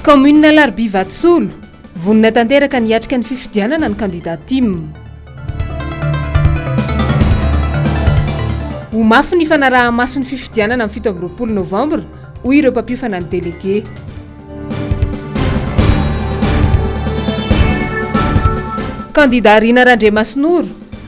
Kaominina Alarobia Vatsolo, vonona tanteraka ny hiatrika ny fifidianana ny kandida Tim. Ho mafy ny fanaraha-maso ny fifidianana amin'ny fito amby roapolo novambra, hoy ireo mpampiofana ny delege. Kandida Rina Randriamasinoro,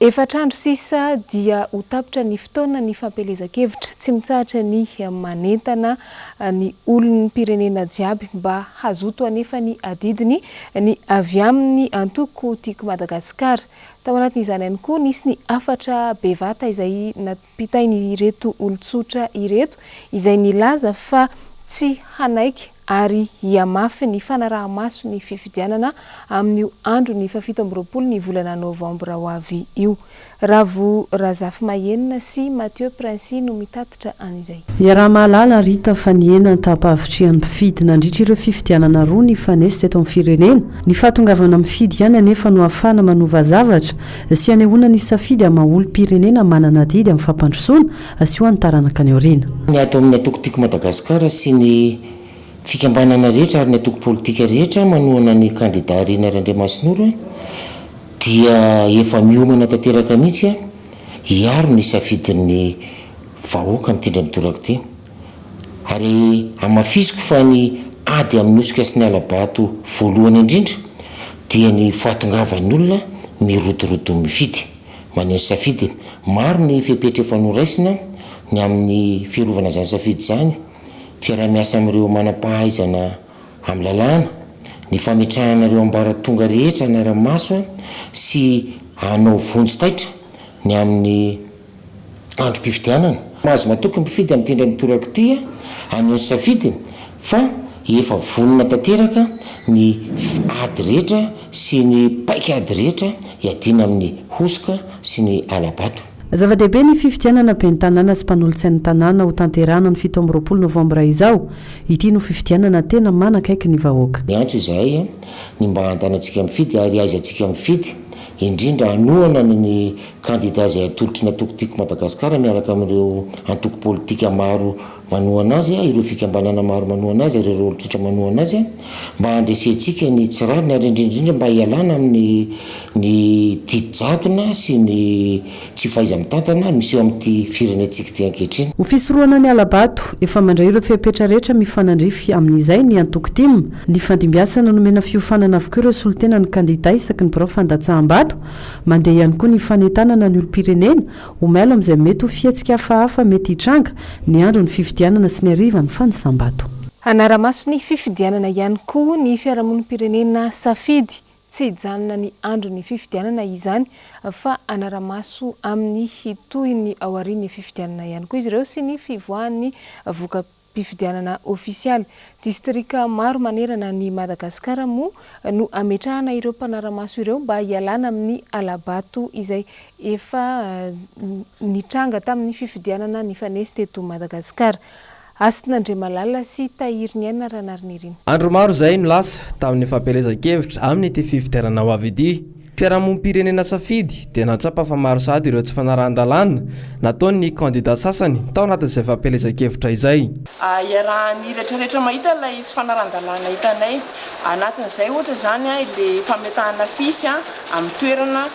Efatra andro sisa dia ho tapitra ny fotoana ny fampielezan-kevitra. Tsy mitsahatra ny manentana ny olom-pirenena jiaby mba hazoto hanefa ny adidiny ny avy amin'ny antoko Tiako Madagasikara. Tao anatin'izany ihany koa nisy ny hafatra bevata izay bitain'ireto olon-tsotra ireto izay nilaza fa tsy hanaiky ary hihamafy ny fanaraha-maso ny fifidianana amin'io andron'ny fahafito amby roapolo ny volana novambra ho avy io. Ravo Razafimahenina sy Mathieu Princii no mitatitra an'izay. Iaraha-mahalala Rita fa nihena ny taham-pahavitrihan'ny mpifidy nandritra ireo fifidianana roa nifanesy teto amin'ny firenena. Ny fahatongavana mifidy ihany anefa no ahafahana manova zavatra sy hanehoana ny safidy amin'ny maha olom-pirenena manana adidy amin'ny fampandrosoana sy ho an'ny taranaka any aoriana. Ny ato amin'ny Antoko Tiako Madagasikara sy ny fikambanana rehetra ary ny antoko politika rehetra manohana ny kandida Rina Randriamasinoro dia efa miomana tanteraka mihitsy hiaro ny safidin'ny vahoaka mitindra midoraka ity. Ary hamafisiko fa ny ady amin'ny hosoka sy ny hala-bato voalohany indrindra dia ny fahatongavan'ny olona mirotoroto mifidy. Maneho ny safidiny. Maro ny fepetra efa noraisina ny amin'ny fiarovana izany safidy izany, fiaraha-miasa amin'ireo manam-pahaizana amin'ny lalàna, ny fametrahana ireo ambaratonga rehetra hanara-maso sy hanao vonjy taitra ny amin'ny androm-pifidianana. Mahazo matoky ny mpifidy amin'ity indray mitoraka ity hanao ny safidiny fa efa vonona tanteraka ny ady rehetra sy ny paik'ady rehetra hiadiana amin'ny hosoka sy ny hala-bato. Zava-dehibe ny fifidianana ben'ny tanàna sy mpanolotsain'ny tanàna hotanterahana ny fito amby roapolo novambra izao. Ity no fifidianana tena manakaiky ny vahoaka. Miantso izahay ny mba hantanantsika mifidy ary aizantsika mifidy. indrindra hanohana ny kandida izay atolotry ny antoko Tiako Madagasikara miaraka amin'ireo antoko politika maro manohana azy, ireo fikambanana maro manohana azy ary ireo olon-tsotra manohana azy mba handresentsika ny tsy rariny ary indrindra indrindra mba hialana amin'ny ny didy jadona sy ny Tsy fahaiza-mitantana miseho amin'ity firenentsika ity ankehitriny. Ho fisorohana ny hala-bato, efa mandray ireo fepetra rehetra mifanandrify amin'izay ny antoko tim. Nifandimbiasana nomena fiofanana avokoa ireo solontenan'ny kandidà isaky ny birao fandatsaham-bato. Mandeha ihany koa ny fanentanana ny olom-pirenena ho mailo amin'izay mety ho fihetsika hafahafa mety hitranga, ny andron'ny fifidianana sy ny harivan'ny fanisam-bato. Hanara-maso ny fifidianana ihany koa ny fiarahamonim-pirenena safidy Tsy hijanona ny andron'ny fifidianana izany fa hanara-maso amin'ny tohin'ny aorian'ny fifidianana ihany koa izy ireo sy ny fivoahan'ny voka-pifidianana ofisialy. Distrika maro manerana an'i Madagasikara moa no hametrahana ireo mpanara-maso ireo mba hialana amin'ny hala-bato izay efa nitranga tamin'ny fifidianana nifanesy teto Madagasikara. Hasina Andriamalala sy Tahiriniaina Ranarinirin. Andro maro izay no lasa tamin'ny fampielezan-kevitra amin'ity fifidianana ho avy ity. Fiarahamonim-pirenena safidy dia nahatsapa fa maro sahady ireo tsy fanarahan-dalàna nataon'ny kandida sasany tao anatin'izay fampielezan-kevitra izay. Iarahan'ny rehetra rehetra mahita ilay tsy fanarahan-dalàna hitanay. Anatin'izay ohatra izany ilay fametahana afisy amin'ny toerana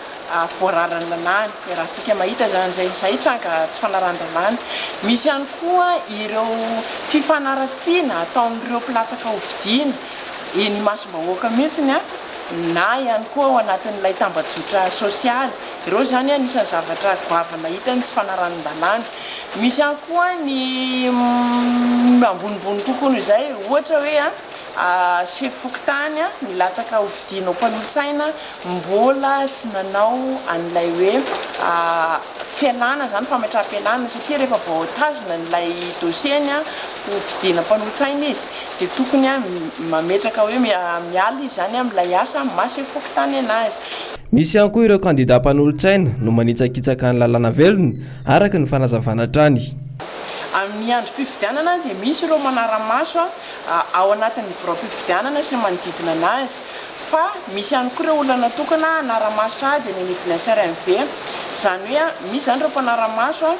voararan'ny lany dia raha tsika mahita izany izay izay hitranga tsy fanarahan-dalàna misy ihany koa ireo fifanaratsiana ataon'ireo mpilatsaka hofidiana eny imasom-bahoaka mihitsy ny na ihany koa ao anatin'ilay tambajotra sosialy ireo izany anisan'ny zavatra goavana hitany tsy fanarahan-dalàna misy ihany koa ny ambonimbony kokoa noho izay ohatra hoe a sefo fokontany milatsaka hofidiana ho mpanolotsaina mbola tsy nanao an'ilay hoe fialana izany, fametraham-pialana, satria rehefa voatazona an'ilay dossier-ny ho fidiana mpanolo-tsaina izy dia tokony mametraka hoe miala izy izany amin'ilay asa maha-sefo fokontany an'azy. Misy ihany koa ireo kandidà mpanolo-tsaina no manitsakitsaka ny lalàna velona, araka ny fanazavana hatrany. Amin'ny androm-pifidianana dia misy ireo manara-maso ao anatin'ny biraom-pifidianana sy manodidina an'azy, Fa misy ihany koa ireo olona natokana hanara-maso sahady eny anivon'ny SRMV. Izany hoe misy izany ireo mpanara-maso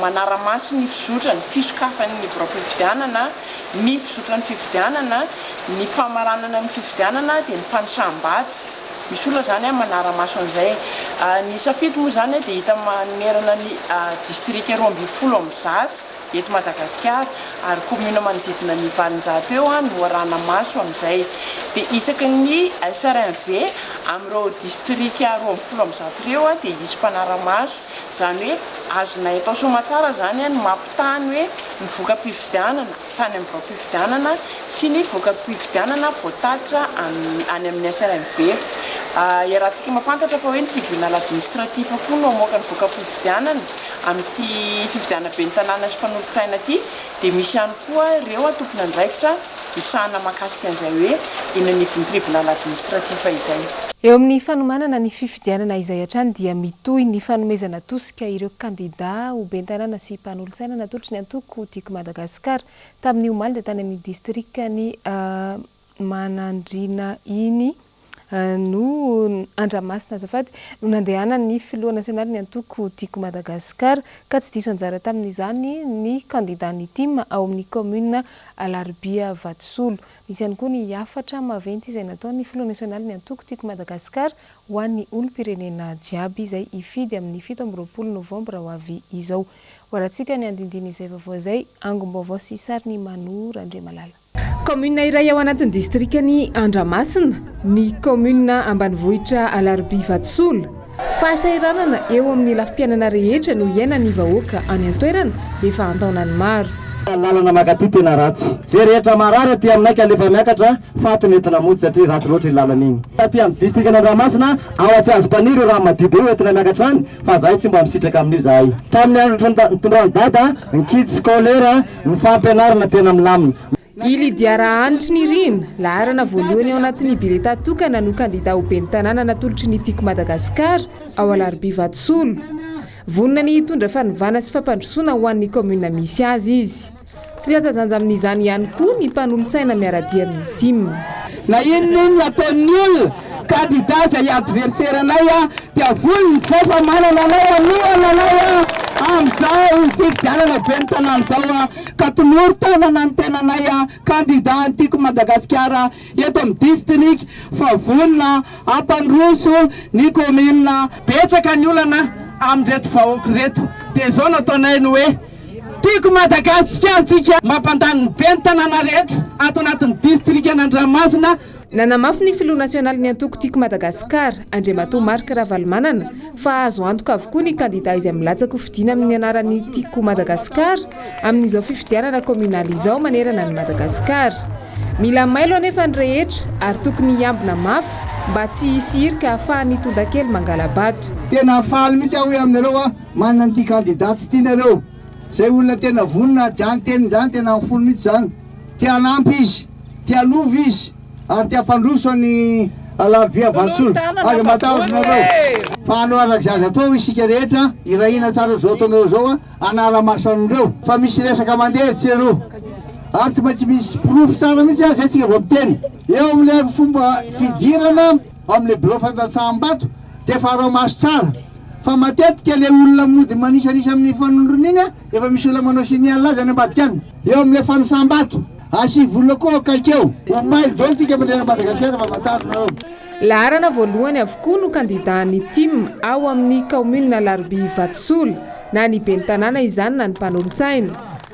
manara-maso ny fizotran'ny fisokafan'ny biraom-pifidianana, ny fizotran'ny fifidianana, ny famaranana ny fifidianana dia ny fanisam-bato. Misy olona izany manara-maso an'izay. Ny safidy moa izany dia hita manerana ny distrika roa ambin'ny folo amby zato. eto Madagasikara ary commune manodidina ny valonjato eo no arahana maso amin'izay dia isaky ny SRMV amin'ireo distrika roa ambin'ny folo amby zato ireo dia hisy mpanara-maso izany hoe azonay atao soamatsara izany ny mampitaha ny hoe ny voka-pifidianana tany amin'ny biraom-pifidianana sy ny voka-pifidianana voatatitra any amin'ny SRMV iarahantsika mampantatra fa hoe ny tribunal administratif koa no hamoaka ny voka-pifidianana Amin'ity fifidianana ben'ny tanàna sy mpanolotsaina ity dia misy ihany koa ireo tompon'andraikitra hisahana mahakasika an'izay hoe eny anivon'ny tribunal administratif izay. Eo amin'ny fanomanana ny fifidianana izay hatrany dia mitohy ny fanomezana tosika ireo kandida ho ben'ny tanàna sy mpanolotsaina natolotry ny antoko Diky Madagasikara tamin'ny omaly tany amin'ny distrikan'i Manandriana iny no Andramasina azafady no nandehanan'ny filoha nasionalin'ny antoko Tiako Madagascar ka tsy diso anjara tamin'izany ny kandidan'ny tim ao amin'ny kaominina Alarobia Vatosolo. Nisy ihany koa ny hafatra maventy izay nataon'ny filoha nasionalin'ny antoko Tiako Madagascar ho an'ny olom-pirenena jiaby izay hifidy amin'ny fito amby roapolo novambra ho avy izao. Ho alantsika ny andindin'izay vaovao izay, angom-baovao sy sarin'i Manu Randriamalala. Kaominina iray ao anatin'ny distrikan'i Andramasina ny kaominina ambanivohitra Alarobia Vatosola. Fahasahiranana eo amin'ny lafim-piainana rehetra no iainan'ny vahoaka any an-toerana efa an-taonany maro. Lalana mankaty tena ratsy. Ze rehetra marary aty aminay ka nefa miakatra faty no entina mody satria ratsy loatra iny lalana iny. Taty amin'ny distrikan' Andramasina ao Atsiazompaniry io rano madio be ho entina miakatra any fa zahay tsy mba misitraka amin'io zahay. Tamin'ny andro nitondrany dada ny kids scolaire. Ny fampianarana tena milamina. I Lydia Rahanitry Nirina, laharana voalohany ao anatin'ny bileta tokana no kandida ho ben'ny tanàna natolotry ny Tiko Madagasikara ao Alarobia Vatosolo. Vonona ny hitondra fanovana sy fampandrosoana ho an'ny kaominina misy azy izy. Tsy latsa-danja amin'izany ihany koa ny mpanolotsaina miara-dia amin'ny tim. Na inona inona ataon'ny olona Kandida izay adversera anay a, dia vono ny vao fa manana anay hanohana anay a, amin'izao fifidianana ben'ny tanàna izao a, ka tonoro tanana ny tenanay a, kandida an'i Tiako Madagasikara eto amin'ny distrika fa vonona hampandroso ny commune. Betsaka ny olana amin'ireto vahoaka ireto, dia izao no ataonay ny hoe, Tiako Madagasikartsika, mampandany ny ben'ny tanàna rehetra ato anatin'ny distrikan'Andramasina, Nanamafy ny filoha nasionalin'ny antoko Tiako Madagasikara, Andriamatoa Marc Ravalomanana, fa azo antoka avokoa ny kandidà izay milatsaka ho fidiana amin'ny anaran'ny Tiako Madagasikara amin'izao fifidianana kaominaly izao manerana an'i Madagasikara. Mila mailo anefa ny rehetra ary tokony hiambina mafy mba tsy hisy hirika hahafahan'ny tontakely mangala-bato. Tena faly mihitsy aho hoe aminareo aho manana an'ity kandidà tsy tianareo. Zay olona tena vonona ady any teniny zany tena am fony mitsy zany te hanampy izy te hanova izy ary te hampandroso any alarobia vantsolo aza matahotra nareo fa anao araka zay aza atao isika rehetra irahina tsara zao ataonareo zao a anara maso anreo fa misy resaka mandeha etsy sy eroa ary tsy maintsy misy porofo tsara mitsy azy atsika vao miteny eo amle fomba fidirana amle birao fandatsaham bato de farao maso tsara Fa matetika le olona mody manisanisa amin'ny fanondrona iny efa misy olona manao signe azy any ambadika any. Eo amin'ilay fanisam-bato, asivolona koa akaikeo. Omaly daholo tsika mandrera an'i Madagasikara famantarinareo. Laharana voalohany avokoa no kandidàn'ny tim ao amin'ny kaominina Alarobia Vatosola, na ny ben'ny tanàna izany na ny mpanolotsaina.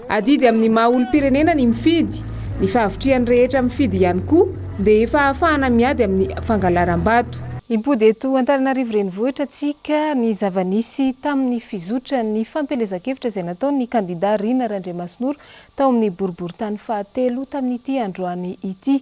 Adidy amin'ny maha olom-pirenena ny mifidy. Ny fahavitrihan'ny rehetra mifidy ihany koa dia efa ahafahana miady amin'ny fangalaram-bato. Impody eto Antananarivo Renivohitra tsika ny zava-nisy tamin'ny fizotran'ny fampielezan-kevitra izay nataon'ny kandida Rina Randriamasinoro tao amin'ny boriborintany fahatelo tamin'ity androany ity.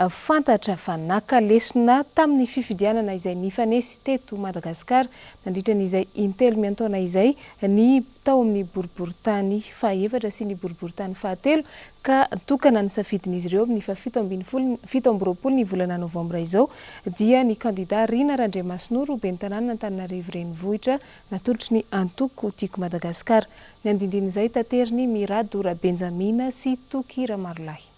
Fantatra fa naka lesona tamin'ny fifidianana izay nifanesy teto Madagasikara nandritra ny izay intelo miantaona izay ny tao amin'ny boriborintany fahaefatra sy ny boriborintany fahatelo ka tokana ny safidin'izy ireo amin'ny fahafito ambin'ny folo fito amby roapolo ny volana novambra izao dia ny kandida Rina Randriamasinoro ho ben'ny tanàna Antananarivo Renivohitra natolotry ny antoko Tiako Madagasikara. Ny andindin'izay taterin'i Mirado Rabenjamina sy Toky Ramarolahy.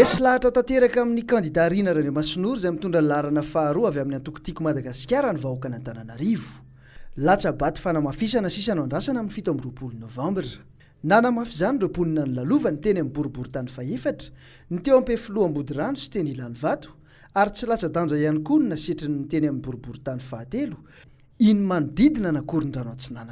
Resy lahatra tanteraka amin'ny kandida Rina Randriamasinoro izay mitondra ny laharana faharoa avy amin'ny antoko Tiako Madagasikara. Madagasikara ny vahoakan'Antananarivo. Latsa-bato fanamafisana sisa no andrasana amin'ny fito amby roapolo novambra. Nanamafy izany ireo mponina nilalovany teny amin'ny boriborintany fahefatra, ny teo Ampefiloha Ambodirano sy teny Ilanivato ary tsy latsa-danja ihany koa ny nasetrin'ny teny amin'ny boriborintany fahatelo, iny manodidina an'Akorondrano Atsinanana.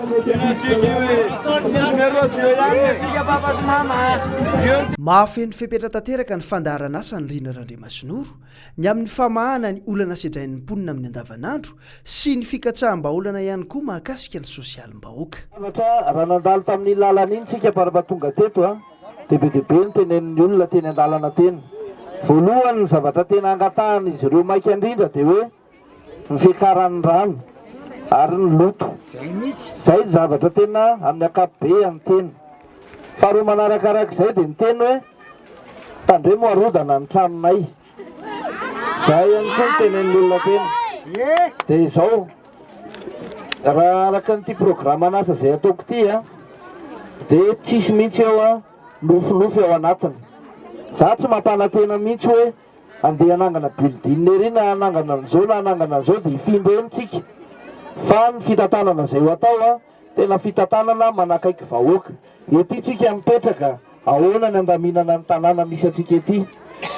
Mahafeno fepetra tanteraka ny fandaharan'asan'i Rina Randriamasinoro ny amin'ny famahana ny olana sedrain'ny mponina amin'ny andavanandro sy ny fikatsaham-bahaolana ihany koa mahakasika ny sosialim-bahoaka. Anatra, raha nandalo tamin'iny lalana iny tsika par raha tonga teto dia be dia be ny tenenin'ny olona teny an-dalana teny. Voalohany ny zavatra tena angatahan'izy ireo maika indrindra dia hoe. ny fiakaran'ny rano ary ny loto. Izay ny zavatra tena amin'ny ankapobehany tena. Faharoa manaraka araka izay dia ny teny hoe tandremo harodana ny tranonay. Izay ihany koa ny tenen'ny olona tena. Dia izao, raha araka an'ity programan'asa izay ataoko ity a, dia tsisy mihitsy eo a, nofinofy ao anatiny. Za tsy mampanantena mihitsy hoe. andeha hanangana building ery na hanangana an'izao na hanangana an'izao dia hifindra eny tsika fa ny fitantanana izay ho atao a tena fitantanana manakaiky vahoaka ety tsika mipetraka ahoana ny andaminana ny tanàna misy antsika ety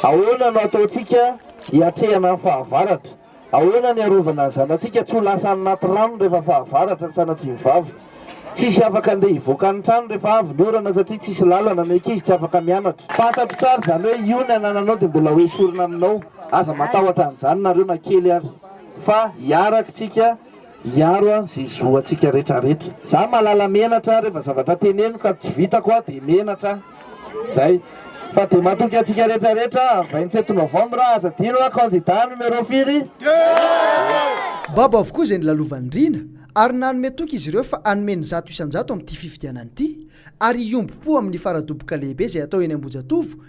ahoana no ataontsika hiatrehana ny fahavaratra Ahoana ny arovana ny zanatsika tsy ho lasa any anaty rano rehefa fahavaratra ny sanatsiny vavy? Tsy hisy afaka andeha hivoaka ny trano rehefa avy ny orana satria tsy hisy lalana, ny ankizy tsy afaka mianatra. Fantatro tsara izany hoe io ny anananao dia mbola ho esorina aminao, aza matahotra an'izany nareo na kely ary fa hiarak'tsika hiaro an ze zo antsika retra retra za malala menatra refa zavatra teneniko ka tsy vitako a de menatra an zay fa de matoky antsika retra retra am vingt sept novembre aza adino a candidat numero firy Babo avokoa izay nilalovan'i Rina ary nanome toky izy ireo fa hanome ny zato isan-jato amin'ity fifidianana ity ary hiombom-po amin'ny fara-doboka lehibe izay hatao eny Ambohijatovo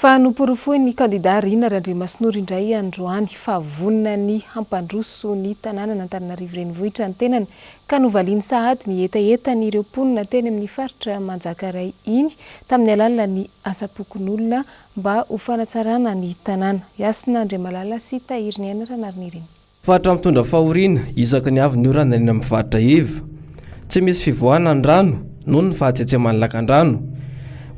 Fa noporofoin'ny kandidà Rina Randriamasinoro indray androany fa vonona ny hampandroso ny tanànan'Antananarivo Renivohitra ny tenany ka novaliany sahady ny hetahetan'ireo mponina teny amin'ny faritra Manjakaray iny tamin'ny alalan'ny asapokonolona Mba ho fanatsarana ny tanàna. Hiasina Andriamalala sy Tahiriniaina Ranariniaina. Faritra mitondra fahoriana isaky ny avy ny orana eny amin'ny faritra iva. Tsy misy fivoahana ny rano noho ny fahatsetseman'ny lakandrano.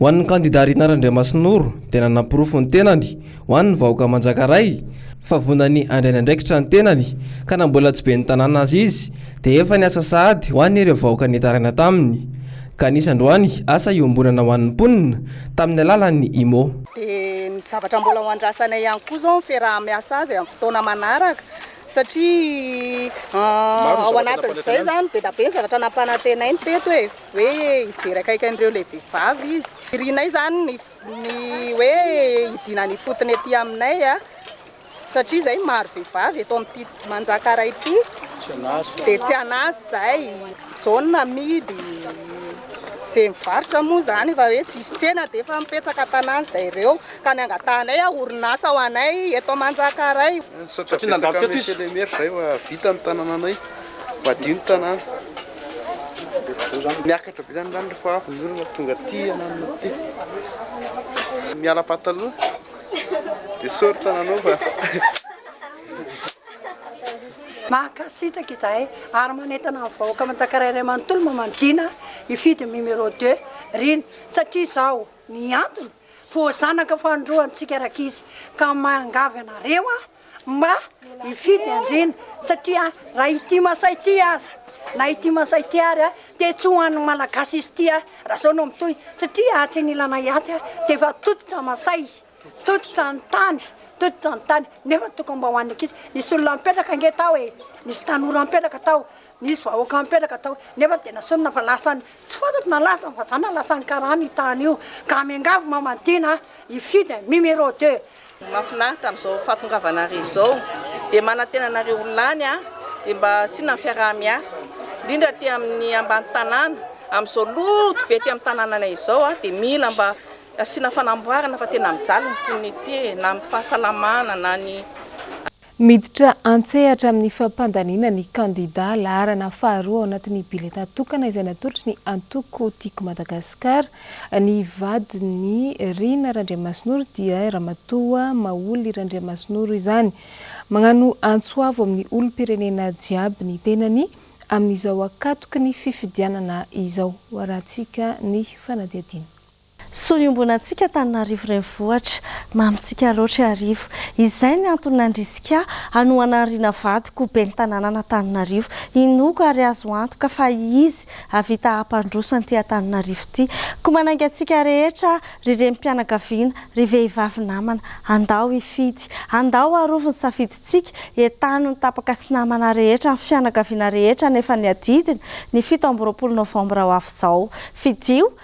Ho an'ny kandida Rinah Randriamasinoro dia nanaporofo ny tenany ho an'ny vahoaka Manjakaray fa vonany handray ny andraikitra ny tenany ka na mbola tsy ben'ny tanàna aza izy dia efa niasa sahady ho an'ireo vahoaka nitaraina taminy Ka nisy androany asa iombonana ho an'ny mponina tamin'ny alalan'ny IMO. Dia ny zavatra mbola ho andrasanay ihany koa izao ny fiaraha-miasa azy amin'ny fotoana manaraka satria ao anatin'izay izany be dia be ny zavatra nampanantenainy teto e, hoe hijery akaiky an'ireo ilay vehivavy izy. Irinay izany ny hoe hidiana ny ifotony ety aminay. Satria izay maro vehivavy eto amin'ity Manjakara ity dia tsy an'asa izay. Izao ny namidy izay mivarotra moa izany efa hoe tsisy tsena dia efa mipetsaka an-tanàna izay ireo ka ny angatahanay a orinasa ho anay eto Manjakaray. Satria nandalo teto izy. Izay efa vita ny tanànanay, madio ny tanàna. Miakatra be izany ny rano rehefa avy ny orana tonga aty hananana aty. Miala pataloha. Dia soritra nanova. Mankasitraka izahay ary manentana ny vahoaka Manjakaray Ray manontolo Mamanidina hifidy ny numéro deux Rina satria izao ny antony voazanaka fahandroantsika rakizy ka mangavy anareo aho Mba hifidy andriana satria raha ity masa ity aza na ity masa ity ary dia tsy ho an'ny malagasy izy ity raha zao no mitohy satria atsy anilanay atsy dia efa tototra masay tototra ny tany tototra ny tany nefa tokony mba ho an'ny ankizy nisy olona mipetraka ange tao e nisy tanora mipetraka tao Nisy vahoaka nipetraka tao nefa dia nasonina fa lasany tsy fantatro na lasany fa za na lasany karana io tany io ka miangavy Mamadina hifidy numéro deux. Ny mahafinaritra amin'izao fahatongavanareo izao dia manantena anareo ho lany aho dia mba asiana ny fiaraha-miasa indrindra aty amin'ny ambany tanàna amin'izao loto be aty amin'ny tanànanay izao aho dia mila mba asiana fanamboarana fa tena mijaly ny mponina ety e na amin'ny fahasalamana na ny Miditra an-tsehatra amin'ny fampandaniana ny kandidà laharana faharoa ao anatin'ny biletà tokana izay natolotry ny antoko Tiako Madagasikara ny vadin'i Rina Randriamasinoro dia Ramatoa Maholy Randriamasinoro izany. Magnano antso avo amin'ny olom-pirenena jiaby ny tenany amin'izao ankatoky ny fifidianana izao. Hoarahantsika ny fanadihadiana. Soa iombonantsika Antananarivo Renivohitra. Mamintsika loatra Iarivo. Izay ny antony nandrisika ahy hanohana an'i Rina vadiko ho ben'ny tanànan'Antananarivo. Inoako ary azo antoka fa izy hahavita hampandroso an'ity Antananarivo ity. Koa manainga antsika rehetra ry renim-pianakaviana, ry vehivavy namana. Andao hifidy. Andao harovy ny safidintsika. Entano ny tapaka sy namana rehetra, ny fianakaviana rehetra nefa ny adidiny, ny fito amby roapolo novambra ho avy izao. Fidio,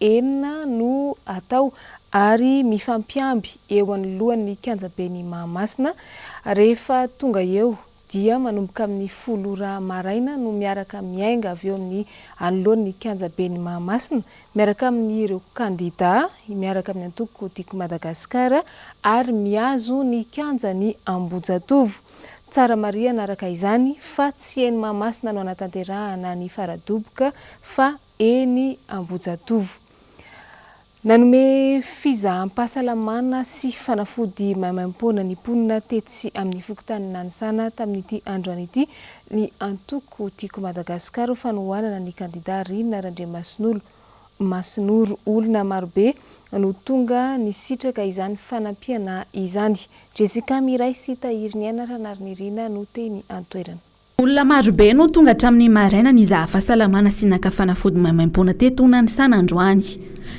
enina no atao ary mifampiamby eo anoloan'ny kianjaben'i Mahamasina, rehefa tonga eo dia manomboka amin'ny folo ora maraina no miaraka miainga avy eo amin'ny anoloan'ny kianjaben'i Mahamasina miaraka amin'ireo kandida miaraka amin'ny antoko Tiako Madagasikara ary mihazo ny kianjan'i Ambohijatovo. Tsara marihana araka izany fa tsy eny Mahamasina no hanatanterahana ny fara-doboka fa eny Ambohijatovo. Nanome fizaham-pahasalamana sy fanafody maimaimpoana ny mponina tetsy amin'ny fokontany Nanisana tamin'ity androany ity ny antoko Tiako Madagasikara ho fanohanana ny kandida Rina Randriamasinolo Masinoro. Olona marobe no tonga nisitraka izany fanampiana izany. Jessica Miray sy Tahiriniaina Ranarinirina no teny an-toerana. Olona marobe no tonga hatramin'ny maraina nizaha fahasalamana sy naka fanafody maimaimpoana teto Nanisana androany.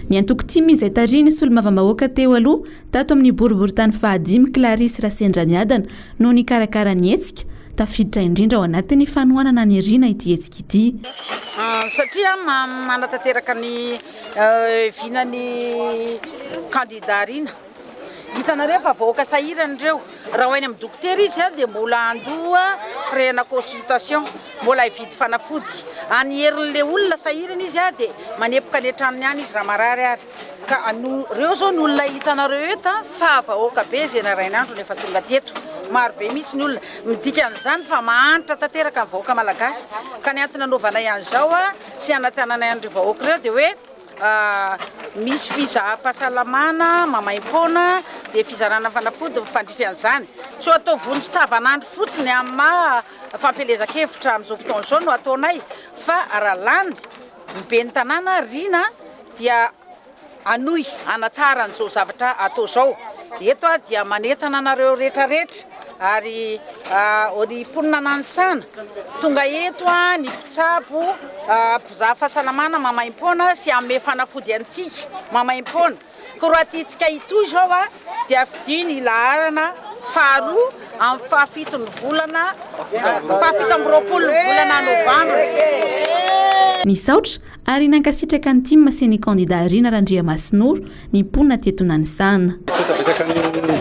Ny antoko tim izay tarihin'ny solombavambahoaka teo aloha tato amin'ny boriborintany fahadimy Clarisse Rasendramiadana no nikarakara ny hetsika, tafiditra indrindra ao anatin'ny fanohanana ny Rina ity hetsika ity. Satria manatanteraka ny vinan'ny kandida Rina. Hitanareo fa vahoaka sahirana ireo, raha ho any amin'ny dokotera izy dia mbola handoa frais ana consultation, mbola hividy fanafody, any herin'ilay olona sahirana izy dia manepoka any an-tranony any izy raha marary ary ka ireo izao ny olona hitanareo eto fa vahoaka be izay narahin'andro no efa tonga teto, maro be mihitsy ny olona, midika an'izany fa mahantra tanteraka ny vahoaka malagasy ka ny antony hanaovanay an'izao sy hanatananay an'ireo vahoaka ireo dia hoe. Misy fizaham-pahasalamana maimaim-poana, dia fizarana fanafody mifandrify an'izany. Tsy ho atao vonjy tavanandro fotsiny amin'ny maha fampielezan-kevitra amin'izao fotoana izao no ataonay fa raha lany ny ben'ny tanàna Riana dia hanohy hanatsara an'izao zavatra atao izao. Eto aho dia manentana anareo rehetrarehetra ary ny mponina Nanisana tonga eto, ny mpitsabo, Mpizaha fahasalamana maimaimpoana sy hanome fanafody antsika maimaimpoana. Koa raha tiantsika hitohy izao dia fidio ny laharana faharoa amin'ny fahafito ny volana, fahafito amby roapolo ny volana novambra. Nisaotra ary nankasitraka ny tim sy ny kandida Rina Randriamasinoro ny mponina teto Nanisana. Misaotra betsaka ny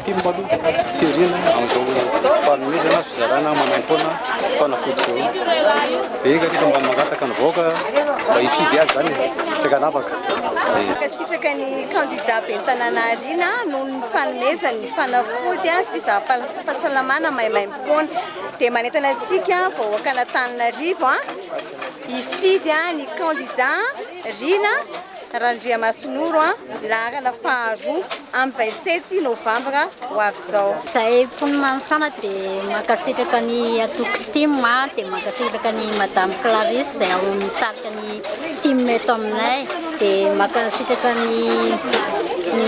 tim aloha tsy ariana amin'izao fanomezana fizarana manam-poana fanafody izao. Dia enga aloha mba mangataka ny vahoaka mba hifidy azy izany e, tsy ankanavaka e. Mankasitraka ny kandida ben'ny tanàna ariana noho ny fanomezany ny fanafody sy fizaham-pahasalamana maimaimpoana. Dia manentana antsika vahoakan'Antananarivo hifidy ny kandida riana. Randriamasinoro an, laharana faharoa amin'ny vingt sept novambra ho avy izao. Zahay mponin'i Manisana dia mankasitraka an'i Antoko Tim an, dia mankasitraka an'i Madame Clarisse izay ao amin'ny mitarika ny Tim eto aminay, dia mankasitraka ny ny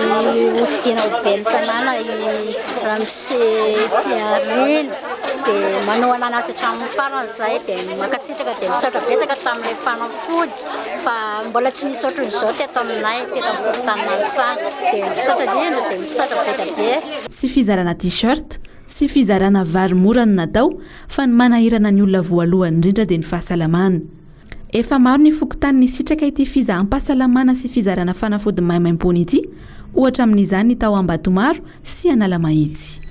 hofidiana ho ben'ny tanàna i Ramose Piarina, dia manao an'anazy hatramin'ny farany zahay, dia mankasitraka, dia misaotra betsaka tamin'ilay fanafody. fa mbola tsy nisy ohatran'izao teto aminay teto amin'ny fokontany Mansa dia misaotra indrindra dia misaotra be dia be. Tsy fizarana t-shirt, tsy fizarana vary mora no natao fa ny manahirana ny olona voalohany indrindra dia ny fahasalamana. Efa maro ny fokontany nisitraka ity fizaham-pahasalamana sy fizarana fanafody maimaimpoana ity, ohatra amin'izany ny tao Ambatomaro sy Analamahitsy.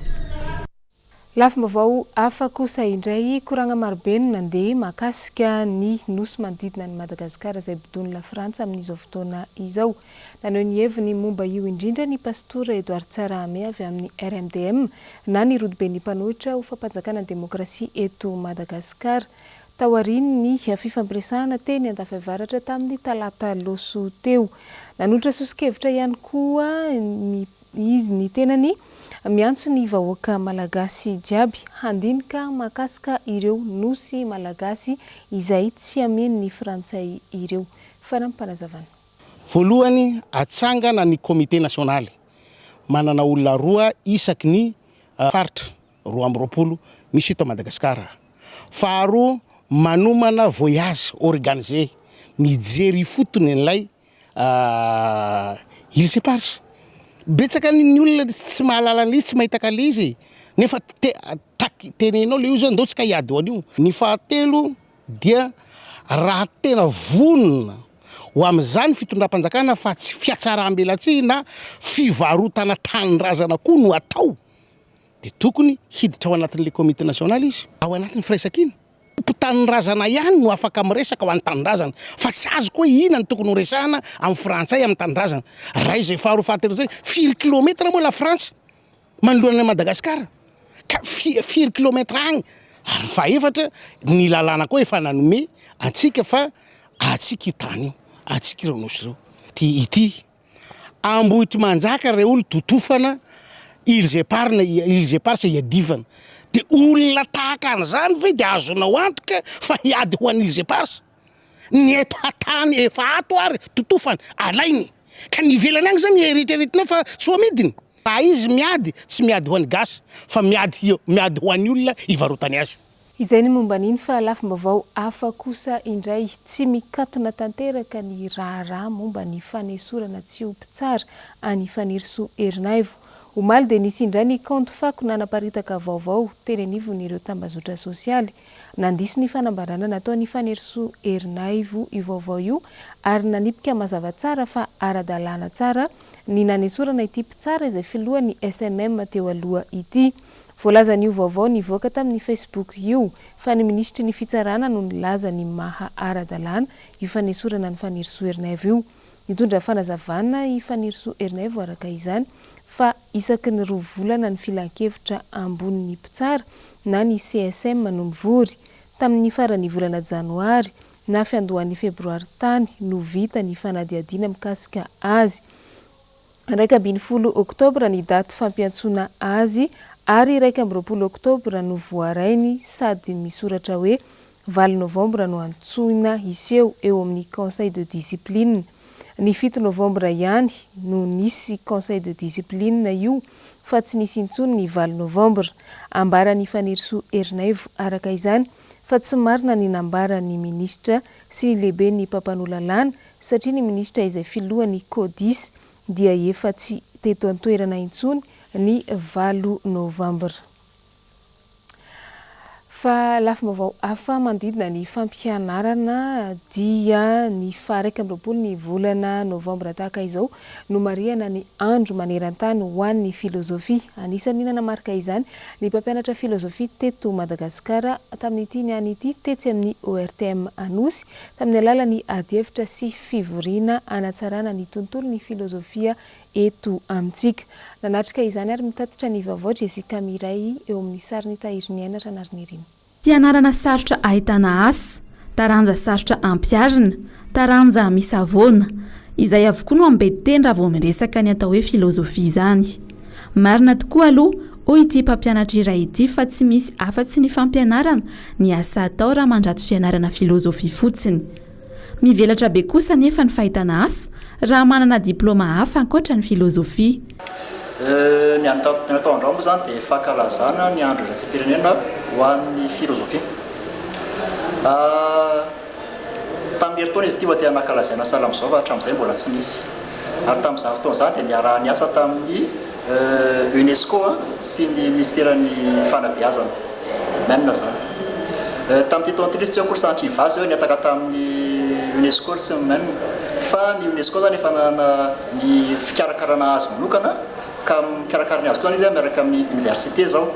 Lafim-baovao hafa kosa indray, koragna marobe no nandeha mahakasika ny nosy manodidina an'i Madagasikara izay bodoin'i Lafrantsa amin'izao fotoana izao. Naneho ny heviny momba io indrindra ny Pastora Edouard Tsarahame avy amin'ny RMDM na ny Rodoben'ny mpanohitra ho fampanjakana ny demokrasia eto Madagasikara taorian'ny fifampiresahana teny Andafiavaratra tamin'ny talata loso teo. Nanolotra soso-kevitra ihany koa ny Izy ny tenany miantso ny vahoaka Malagasy jiaby handinika mahakasika ireo Nosy Malagasy izay tsy hameno ny Frantsay ireo. Farampanazavan. Voalohany, atsangana ny Comité Nationaly, manana olona roa isaky ny Faritra. roa amby roapolo misy eto Madagasikara. Faharoa, manomana voyage organisé mijery ifotony an'ilay Îles Éparses. Betsaka ny ny olona tsy mahalala an'ilay izy, tsy mahita an'ilay izy e! nefa te- tak- tenenao ilay izy hoe ndao tsika hiady ho an'io. Ny fahatelo dia raha tena vonona ho amin'izany fitondram-panjakana fa tsy fiatsaram-belatsihy na fivarotana tanindrazana koa no atao, dia tokony hiditra ao anatin'ilay comité national izy. Ao anatin'ny firaisankina. Mpitanin-drazana ihany no afaka miresaka ho an'ny tanindrazana fa tsy azoko hoe inona no tokony ho resahana amin'ny frantsay amin'ny tanindrazana raha izay faharoa fahatelo izay firy kilometatra moa la frantsa manoloana an'i madagasikara ka fi- firy kilometatra agny ary fahaefatra ny lalàna koa efa nanome antsika fa atsika io tany io atsika ireo nosy ireo ty ity Ambohitrimanjaka rey olo totofana ils epargne ils eparse iadivana de olona tahaka an'zany ve de azonao antoka fa hiady ho an'ny ils eparse? ny eto hatany efa ato ary totofana alainy ka ny ivelany any zany eritreretinao fa tsy ho amidiny? raha izy miady tsy miady ho an'ny gasy fa miady miady ho an'ny olona ivarotany azy. Izay ny momba an'iny fa lafim-baovao hafa kosa indray, tsy mikatona tanteraka ny raharaha momba ny fanesorana tsy ho mpitsara an'i Fanirisoa Ernaivo. Omaly dia nisy indray ny kaonty fako nanaparitaka vaovao teny anivon'ireo tambazotra sosialy. Nandiso ny fanambarana nataon'i Fanirisoa Ernaivo io vaovao io ary nanipika mazava tsara fa ara-dalàna tsara ny nanesorana ity mpitsara izay filohan'ny SMM teo aloha ity. Voalazan'io vaovao nivoaka tamin'ny Facebook io fa ny minisitry ny Fitsarana no nilaza ny maha ara-dalàna io fanesorana an'i Fanirisoa Ernaivo io. Nitondra fanazavana i Fanirisoa Ernaivo araka izany fa isaky ny roa volana ny Filankevitra ambonin'ny mpitsara na ny CSM no mivory. Tamin'ny faran'ny volana janoary na fiandohan'ny febroary tany no vita ny fanadihadiana mikasika azy. Iraika ambin'ny folo oktobra ny daty fampiantsoana azy ary iraika amby roapolo oktobra no voarainy sady misoratra hoe valo novambra no antsoina hiseho eo amin'ny conseil de discipline. Ny fito novambra ihany no nisy conseil de discipline io fa tsy nisy intsony ny valo novambra. Ambaran'i Fanirisoa Ernaivo araka izany fa tsy marina ny nambaran'ny minisitra sy ny lehiben'ny mpampanoa lalàna satria ny minisitra izay filohan'ny Codis dia efa tsy teto an-toerana intsony ny valo novambra. Fa lafim-baovao hafa manodidina ny fampianarana dia ny faha iraika amby roapolo ny volana novambra tahaka izao no marihana ny andro maneran-tany ho an'ny filozofia. Anisan'ny nanamarika izany ny mpampianatra filozofia teto Madagasikara tamin'ity niany ity tetsy amin'ny ORTM Anosy tamin'ny alalan'ny adihevitra sy fivoriana hanatsarana ny tontolon'ny filozofia eto amintsika. Nanatrika izany ary mitatitra ny vaovao Jessica Mireille eo amin'ny sarin'i Tahiriniaina Ranarinirinina. Fianarana sarotra ahitana asa, taranja sarotra ampiharina, taranja misavoana. Izay avokoa no ambediteny raha vao miresaka ny atao hoe filozofia izany. Marina tokoa aloha hoy ity mpampianatra iray ity fa tsy misy afa-tsy ny fampianarana ny asa atao raha mandrato fianarana filôzôfia fotsiny. Mivelatra be kosa anefa ny fahitana asa raha manana diplaoma hafa ankoatra ny filôzôfia. Ny ataon-dRao moa izany dia fankalazana ny andro iraisam-pirenena ho an'ny filôzôfia. Tamin'ny herintaona izy ity vao te-hanakalazaina sahala amin'izao fa hatramin'izay mbola tsy nisy. Ary tamin'izany fotoana izany dia niaraha-niasa tamin'ny UNESCO sy ny Minisiteran'ny Fanabeazana. Maine izany. Tamin'ity taona ity ilay izy, tsy haiko ry sahatry ny vary izay hoe nihataka tamin'ny UNESCO ry tsy ny Maine. Fa ny UNESCO izany efa nanana ny fikarakarana azy manokana ka mikarakara ny azy koa izany izy miaraka amin'ny Oniversite izao.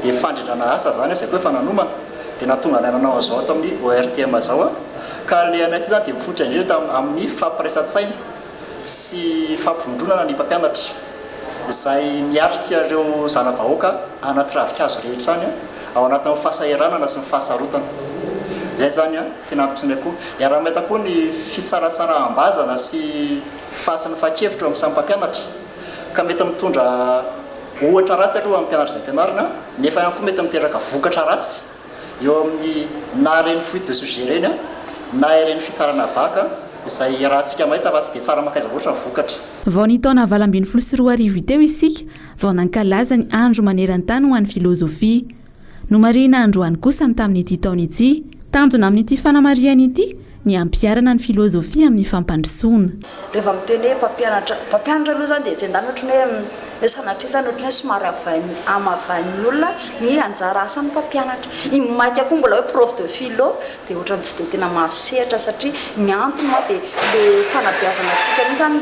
Dia fandrindrana asa izany izay koa efa nanomana. dia nahatonga anay nanao an'izao ato amin'ny ORTM izao an, ka ilay anay ity izany dia mifototra indrindra tam amin'ny fampiraisan-tsaina sy fampivondronana ny mpampianatra izay miatrika ireo zana-bahoaka any anaty ravinkazo rehetra any ao anatin'ny fahasahiranana sy ny fahasarotana. Izay izany an, tena antokisanay koa. Iaraha-mahita koa ny fisaratsaraham-bazana sy fahasamifan-kevitra eo amin'ny samy mpampianatra. ka mety mitondra ohatra ratsy aloha amin'ny mpianatra izay ampianarina nefa ihany koa mety miteraka vokatra ratsy eo amin'ny na ireny fuite de sujet ireny na ireny fitsarana bac izay iarahantsika mahita fa tsy dia tsara mankaiza loatra ny vokatra. Vao ny taona valo ambin'ny folo sy roa arivo teo isika vao nankalaza ny andro maneran-tany ho an'ny filozofia. Nomarihina androany kosa ny tamin'ity taona ity. Tanjona amin'ity fanamarihana ity ny hampiharana ny filôzôfia amin'ny fampandrosoana. Rehefa miteny hoe mpampianatra, mpampianatra aloha izany dia etsy an-daniny ohatran'ny hoe sanatria izany ohatran'ny hoe somary havain'ny, hamavain'ny olona ny anjara asan'ny mpampianatra. I Maika koa mbola hoe prof de philo dia ohatran'ny tsy dia tena mahazo sehatra satria ny antony moa dia ilay fanabeazana antsika mihitsy zany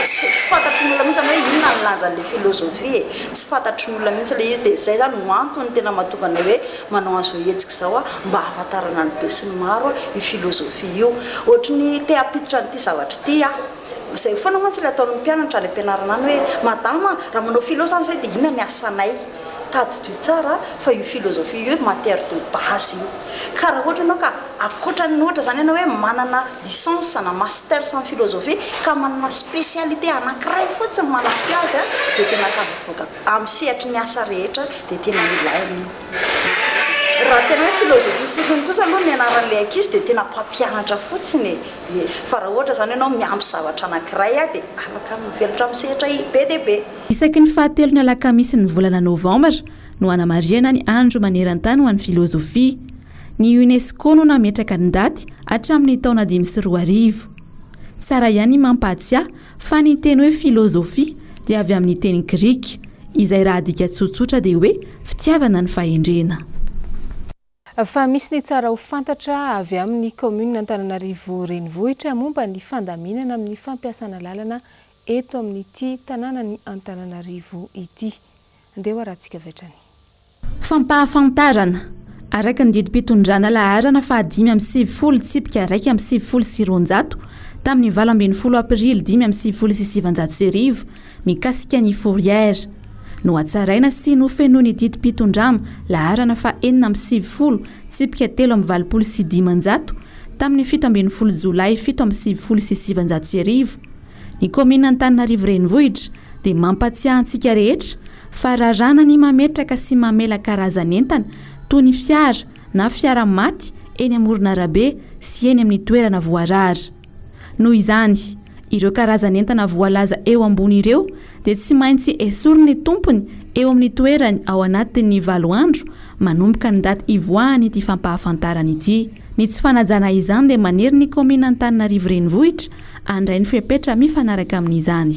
tsy tsy fantatry ny olona mihitsy zany hoe inona ny lanjan'ilay philosophie e, tsy fantatry ny olona mihitsy ilay izy dia zay zany no antony tena mahatonga anay hoe manao an'izao hetsika izao hoe mba hahafantarana ny besinimaro io philosophie io, ohatry ny te hampiditra an'ity zavatra ity aho. Izay foana mantsy ilay ataon'ny mpianatra any am-pianarana any hoe, Madama a, raha manao philo izany izahay dia inona ny asanay? Tadidio tsara fa io philosophie io matière de base io. Ka raha ohatra ianao ka ankoatran'ny ohatra izany ianao hoe manana licence na masters amin'ny philosophie ka manana spécialité anankiray fotsiny manampy azy a, dia tena tafavoaka amin'ny sehatry ny asa rehetra dia tena ilaina io. Raha tena hoe philosophie fotsiny kosa aloha ny anaran'ilay ankizy dia tena mpampianatra fotsiny e. Ef. Fa raha ohatra izany ianao miampy zavatra anankiray dia afaka mivelatra amin'ny sehatra be dia be. Isaky ny fahatelon'ny alakamisin'ny volana novambra no hanamarihana ny andro maneran-tany ho an'ny filozofia. Ny UNESCO no nametraka ny daty hatramin'ny taona dimy sy roa arivo. Tsara ihany ny mampahatsiahy fa ny teny hoe filozofia dia avy amin'ny teny grika, izay raha adika tsotsotra dia hoe fitiavana ny fahendrena. Fa misy ny tsara ho fantatra avy amin'ny kaominina Antananarivo Renivohitra momba ny fandaminana amin'ny fampiasana lalana eto amin'ity tanànan'i Antananarivo ity. Andeha ho arahantsika avy hatrany. Fampahafantarana, Araka ny didim-pitondrana laharana fahadimy amby sivifolo tsipika iraika amby sivifolo sy roanjato, tamin'ny valo ambin'ny folo aprily dimy amby sivifolo sy sivinjato sy arivo, mikasika ny Fourrière. Nohatsaraina sy nofenoin'ny didim-pitondram, laharana faha enina amby sivifolo, tsipika telo amby valopolo sy dimanjato, tamin'ny fito ambin'ny folo Jolay fito amby sivifolo sy sivinjato sy arivo, ny kaominina Antananarivo Renivohitra, dia mampatsiahy antsika rehetra fa raràna ny mametraka sy mamela karazan'entana toy ny fiara na fiara maty eny amoron'arabe sy eny amin'ny toerana voarara. Noho izany, ireo karazan'entana voalaza eo ambony ireo dia tsy maintsy esorin'ny tompony eo amin'ny toerany ao anatin'ny valo andro manomboka ny daty hivoahan'ity fampahafantarana ity. Ny tsy fanajana izany dia manery ny kaominin'Antananarivo Renivohitra handray ny fepetra mifanaraka amin'izany.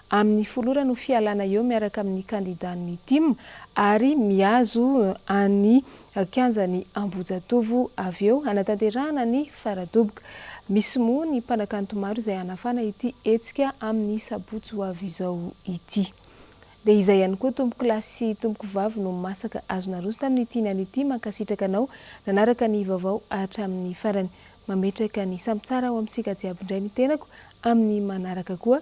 amin'ny folorana ho fialana eo miaraka amin'ny kandidàn'ny tim ary mihazo an'ny kianjan'i Ambohijatovo avy eo hanatanterahana ny fara-doboka. Misy moa ny mpanakanto maro izay hanafana ity hetsika amin'ny sabotsy ho avy izao ity. Dia izay ihany koa tompokolahy sy tompokovavy no masaka azo naroso tamin'ity niany ity. Mankasitraka anao nanaraka ny vaovao hatramin'ny farany. Mametraka ny samy tsara ho amintsika jiaby indray ny tenako amin'ny manaraka koa.